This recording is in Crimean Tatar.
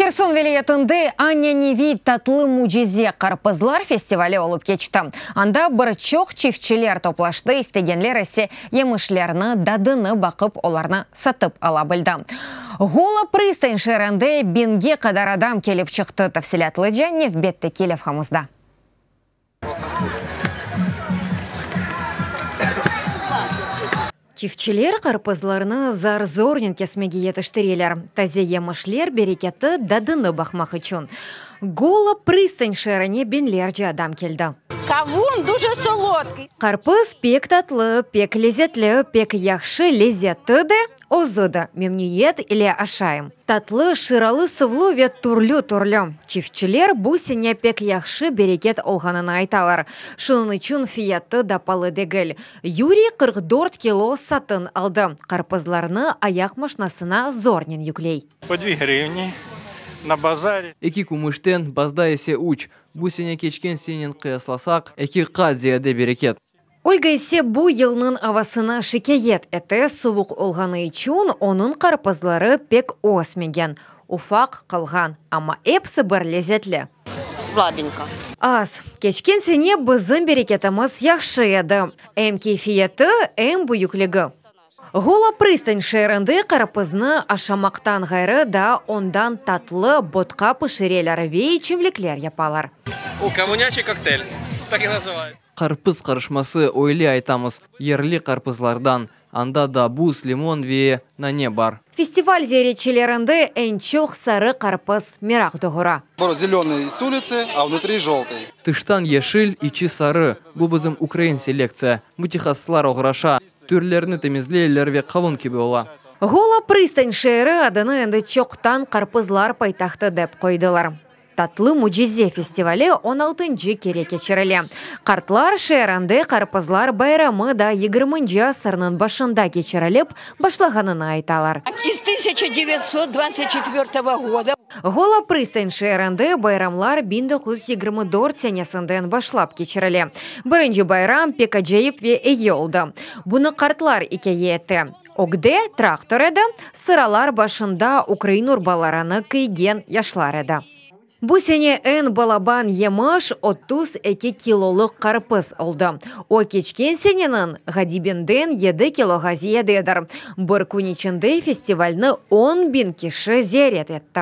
Herson vilâyetinde Anâneviy tatlı mücize qarpızlar festivali olıp keçti. Anda bir çoq çiftçiler toplaştı, istegenler ise yemişlerni dadını baqıp, olarnı satıp ala bildi. Gola Pristañ şeerinde biñge qadar adam kelip çıqtı, tafsilâtlıca nevbetteki levhamızda. Çiftçiler qarpızlarnı zar-zornen kesmege yetiştireler, taze yemişler bereketi, dadına baqmaq içün Gola Pristañ şeerine biñlerce adam keldi. Qarpız pek tatlı, pek lezetli, pek yahşı lezzeti de, Özü de memnüiyet ile aşayım. Tatlı, şıralı, suvlu ve türlü-türlü. Çiftçiler bu sene pek yahşı bereket olğanını aytalar, şunıñ içün fiyatı da palı degil. Yuriy qırq dört kilo satın aldı, qarpızlarnı ayaq maşnasına zornen yükley. Po dvi hrivni na bazari. Eki kümüşten, bazda ise üç. Bu sene keçken senenen qıyaslasaq, eki qat ziyade bereket. Olga ise bu yılnıñ avasına şikâyet ete, sovuq olğanı içün onıñ qarpızları pek ösmegen, ufaq qalğan, amma episi bir lezetli. Slabinka. Az. Keçken sene bizim bereketimiz yahşı edi, em keyfiyeti, em büyükligi. Gola Pristan şeerinde qarpıznı aşamaqtan ğayrı da ondan tatlı, botka pişireler ve içimlikler yapalar. O, kommunâçe koktel. Tak i nazıvayıç. Qarpız qarışması, öyle aytamız, yerli qarpızlardan. Anda da buz, limon ve nane bar. Festival ziyaretçilerinde eñ çoq sarı qarpız meraq doğura. Bura zelenıy s ulitsı, a vnutri joltıy. Tıştan yeşil, içi sarı. Bu bizim ukrain selektsiya. Mütehassıslar oğraşa, türlerini temizleyler ve qavun kibi ola. Gola Pristanj şeeri adını endi çoqtan qarpızlar paytahtı dep qoydılar. Tatlı mücize festivali on altıncı kere keçirile. Qartlar şeerinde Qarpızlar bayramı da yigirminci asırnıñ başında keçirilip başlağanını aytalar. Gola Pristañ şeerinde bayramlar biñ doquz yüz yigirmi dört senesinden başlap keçirile. Birinci bayram pek acayip ve iyi oldı. Bunı qartlar ikâye ete. Ögde traktor edi, sıralar başında ukrain urbalarını kiygen yaşlar edi. Bu sene eñ balaban yemiş otuz eki kilolıq qarpız oldı. O keçken seneniñ ğadibinden yedi kiloğa ziyadedir. Bir kün içinde festivalni on biñ kişi ziyaret etti.